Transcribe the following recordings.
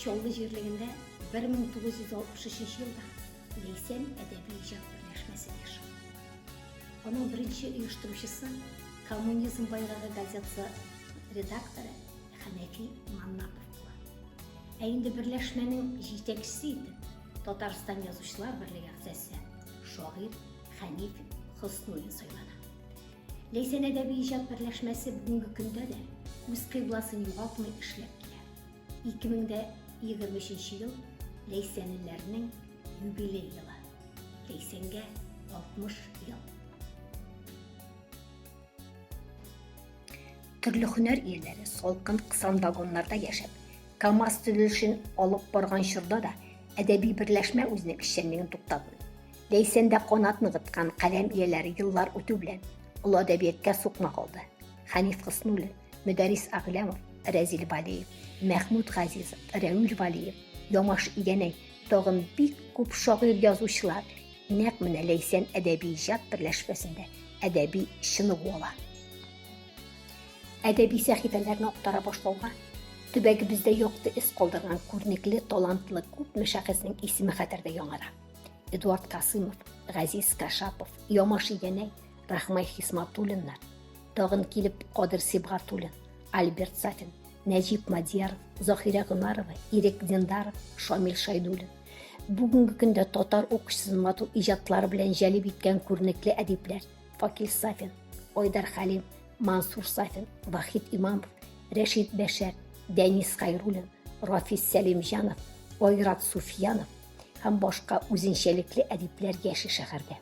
Чаллы җирлегендә 1963 елда Ләйсән әдәби-иҗат берләшмәсе оеша. Аның беренче оештыручысы, Коммунизм байрагы газетасы редакторы Хәнәфи Маннапов була. Ә инде берләшмәнең җитәкчесе итеп Татарстан язучылар берлеге әгъзасы, шагыйрь Хәниф Хөснуллин сайлана. Ләйсән әдәби иҗат берләшмәсе бүгенге көндә дә үз кыйбласын югалтмый эшләп килә. 2023 ел Ләйсәнлеләрнең юбилей елы. Ләйсәнгә 60 ел. Төрле һөнәр ияләре салкын кысан вагоннарда яшәп, КАМАЗ төзелешен алып барган чорда да әдәби берләшмә үзенең эшчәнлеген туктатмый. Ләйсәндә канат ныгыткан каләм ияләре еллар үтү белән олы әдәбияткә сукмак алды. Хәниф Хыснуллин, Мөдәрис Аглямов, Рәзил Валиев, Мәхмүд Газизов, Рәүил Валиев, Ямаш Игәнәй, тагын бик күп шагыйрь-язучылар Нәкъ менә Ләйсән әдәби иҗат берләшмәсендә әдәби чыныгу ала. Әдәби сәхифәләрне актара башлауга төбәгебездә якты эз калдырган күренекле, талантлы күпме шәхеснең исеме хәтердә яңара. Эдуард Касымов, Газиз Кашапов, Ямаш Игәнәй, Рахмай Хисматуллиннар, тагын килеп Кадир Сибгатуллин, Альберт Сафин, Нәҗип Мадьяров, Захирә Гомарова, Ирек Диндаров, Шамил Шайдуллин. Бүгенге көндә татар укучысын матур иҗатлары белән җәлеп иткән күренекле әдипләр Факил Сафин, Айдар Хәлим, Мансур Сафин, Вахид Имамов, Рәшид Бәшәр, Дәнис Хайруллин, Рафис Сәлимҗанов, Айрат Суфьянов һәм башка үзенчәлекле әдипләр яши шәһәрдә.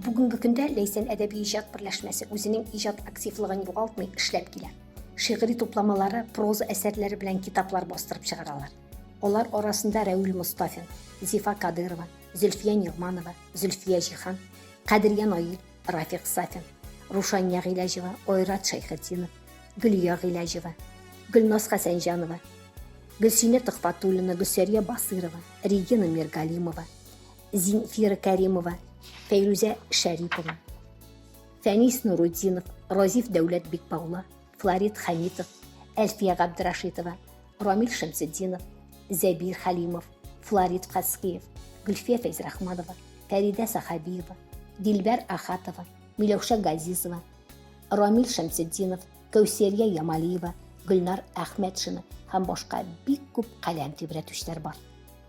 Бүгенге көндә Ләйсән әдәби иҗат берләшмәсе үзенең иҗат активлыгын югалтмый эшләп килә. Шигъри тупламалары, проза әсәрләре белән китаплар бастырып чыгаралар. Алар арасында Рәүл Мостафин, Зифа Кадырова, Зөлфия Нигъманова, Зөлфия Җихан, Кадрия Наил, Рафик Сафин, Рушания Гыйләҗева, Айрат Шәйхетдинов, Гөлия Гыйләҗева, Гөлназ Хәсәнҗанова, Гөлсинә Төхфәтуллина, Гөлсәрия Басыйрова, Регина Миргалимова, Зинфира Кәримова, Фәйрүзә Шәрипова, Фәнис Нуруддинов, Розиф Дәүләт Бикбаула, Флорид Хәмитов, Әлфия Габдрашитова, Рамил Шәмсетдинов, Зәбир Хәлимов, Флорид Каскиев, Гөлфия Фәйзрахманова, Фәридә Сахабиева, Дилбәр Ахатова, Миләүшә Газизова, Рамил Шәмсетдинов, Кәүсәрия Ямалиева, Гөлнар Әхмәтшина һәм башка бик күп каләм тибрәтүчеләр бар.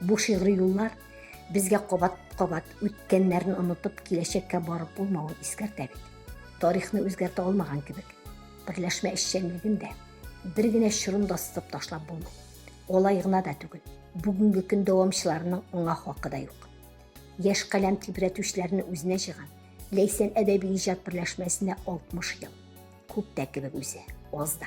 Бу шигъри юллар безгә кабат-кабат үткәннәрне онытып, киләчәккә барып булмавын искәртә бит. Тарихны үзгәртә алмаган кебек, берләшмә эшчәнлеген дә бер генә чорында сызып ташлап булмый. Алай гына да түгел, бүгенге көн дәвамчыларының аңа хакы да юк. Яшь каләм тибрәтүчеләрне үзенә җыйган Ләйсән әдәби иҗат берләшмәсенә 60 ел. Күп тә кебек үзе, аз да.